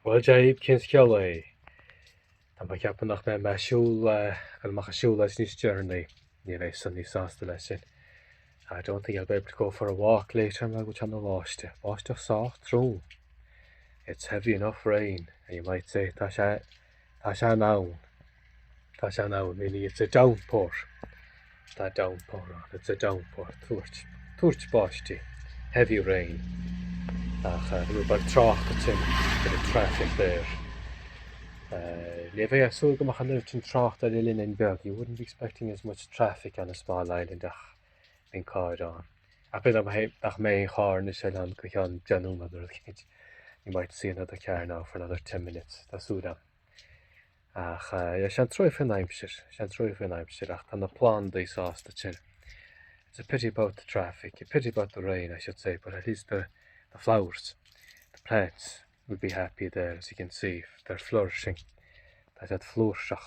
Bhuel, Dia dhaoibh, cén scéal é? Tá mé ag ceapadh nach mbeidh mé ag siúl, amach ag siúl leis níos deireanaí, ní bheidh Sonny sásta leis sin. I don't think I'll be able to go for a walk later mar gheall ar an mbáisteach. Báisteach sách trom. It's heavy enough rain, and you might say tá sé Tá sé in ann. Tá sé in ann. Meaning it's a downpour. Tá downpour ann. It's a downpour. Tuairt. Tuairt báistí. Heavy rain. Ach eh, rud beag trácht ansin. Bit of traffic there. Eh, ní bheifeá ag súil go mbeadh an oiread sin trácht ar oileáinín beag. You wouldn't be expecting as much traffic on a small island ach bíonn carr ann. Ach b'fhéidir nach mbeidh nach mbeidh aon charr anois ann go ceann deich nóiméad nó rud éicint. You might see another car now for another ten minutes. Tá súil ann. Ach eh, sé an trua é faoin aimsir, sé an trua é faoin aimsir ach tá na plandaí sásta ansin. It's a pity about the traffic, a pity about the rain I should say, but at least the, the flowers, the plants will be happy there as you can see, they're flourishing. Tá siad flúirseach,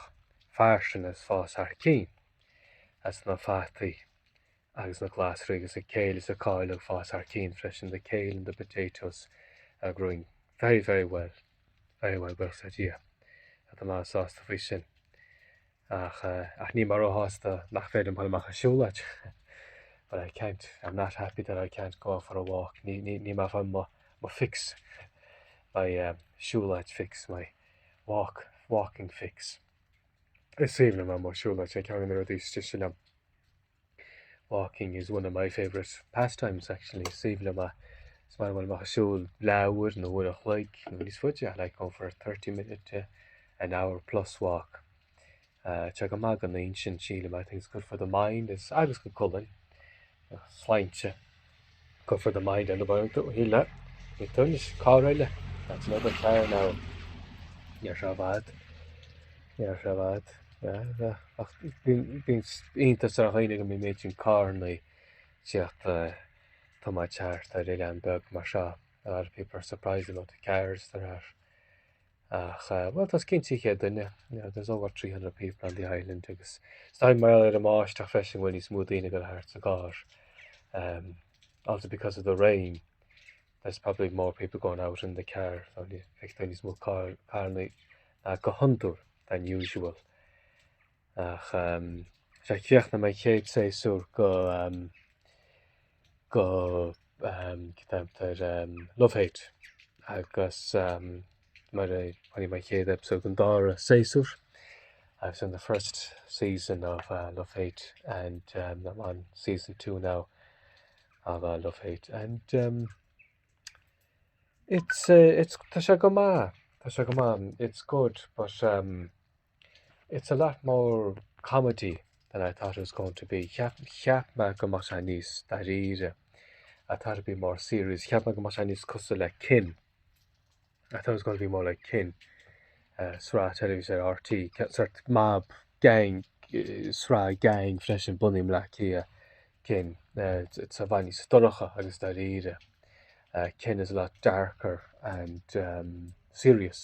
fairsing is ag fás thar cionn. is na fataí agus na glasraí agus an kale is an cál ag fás thar cionn freisin the kale and the potatoes are growing very very well very well buíochas le Dia, tá mé sásta faoi sin ach eh, ach níl mé róshásta nach féidir a dhul amach ag siúlóid but I can't I'm not happy that I can't go for a walk ní ní níl mé ag fáil mo mo fix my um, siúlóid fix my walk walking fix Is aoibhinn liom a bheith ag siúl, tá sé ceann de na rudaí is deise liom. Walking is one of my favourite pastimes actually. Is aoibhinn liom a, is maith liom a dhul amach ag siúl leathuair nó uair an chloig nó níos faide. I like going for a thirty minute to an hour plus walk. Tá sé go maith don intinn, sílim, I think it's good for the mind agus don cholainn. Sláinte. Cuirfear do Maidhc Dana Boyle tú a thuilleadh faoi tuairisc cár eile that's another chair now. Níor seo bhad. Níor seo bhad. Bhín iontas ar chuoine go mí méid sin cánaí tíocht eh, tá má teart a ri an beg mar seo a lot of people are surprised about the cars that are ach bhuel tá os cionn trí chéad duine, there's over 300 people on the island agus is dóigh mar gheall ar an mbáisteach freisin bhfuil níos mó daoine ag dul thart i gcarr um, also because of the rain there's probably more people going out in the car níos mó carranna ná go hiondúil than usual ach um, sé chéoch na mé chéad sé sú go um, go ceaptar Love Hate agus mar a thairg mé an chéad eipeasóid an dara séasúr I was in the first season of Love Hate and I'm on season two now of Love Hate and it's eh it's tá sé go maith tá sé go maith it's good but It's a lot more comedy than I thought it was going to be, cheap, cheap mé go mbeadh sé níos dáiríre, I thought it would be more serious, cheap mé go mbeadh sé níos cosúil le Kin, I thought it was going to be more like Kin, uh, sraith teilifíse ar RTÉ, ce- sórt mob, gang, eh, sraith gang freisin bunaithe i mBleá Cliath, Kin, eh, it's, it's i bhfad níos dorcha agus dáiríre, eh, Kin is a lot darker and, um, serious.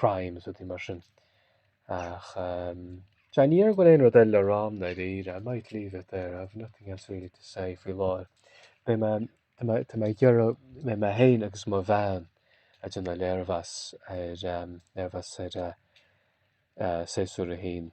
crimes rudaí mar sin ach eh, ní déarfainn go bhfuil aon rud eile le rá agam i ndáiríre I might leave it there I have nothing else really to say faoi láthair Beidh mé Tá mé ag iarraidh beidh mé héin agus mo bhean ag déanamh léirmheas ar léirmheas ar eh, eh, séasúr a haon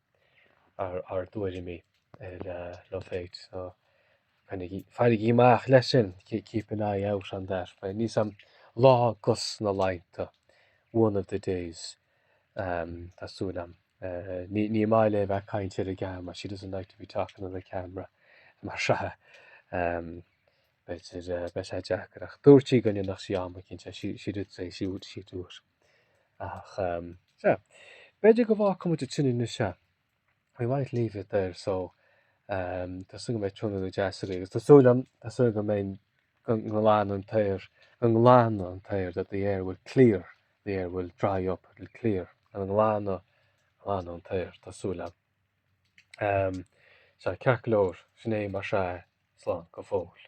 ar ár dtuairimí ar Love Hate so fairigí amach leis sin, keep an eye out on that. Beidh níos am lá de na laethanta one of the days tá súil agam. Ní maith léi bheith ag caint ar an gceamara, she doesn't like to be talking on the camera mar sin. B'fhéidir beidh sé deacair ach dúirt sí go ndéanfadh sí é um cinnte. She, she did say she would, she'd do it. Ach, um, sea, b'fhéidir go bhfágfaidh muid ansin anois é. We might leave it there, so um, tá súil go mbeidh tráthnóna deas agaibh. Agus tá súil agam, tá súil go mbeidh go nglanann an t-aer, go nglanann an t-aer that the air will clear, the air will dry up, it will clear. An nglanann, nglanann an t-aer, tá súil agam. Sea, ceart go leor, sin é mar sin, slán go fóill.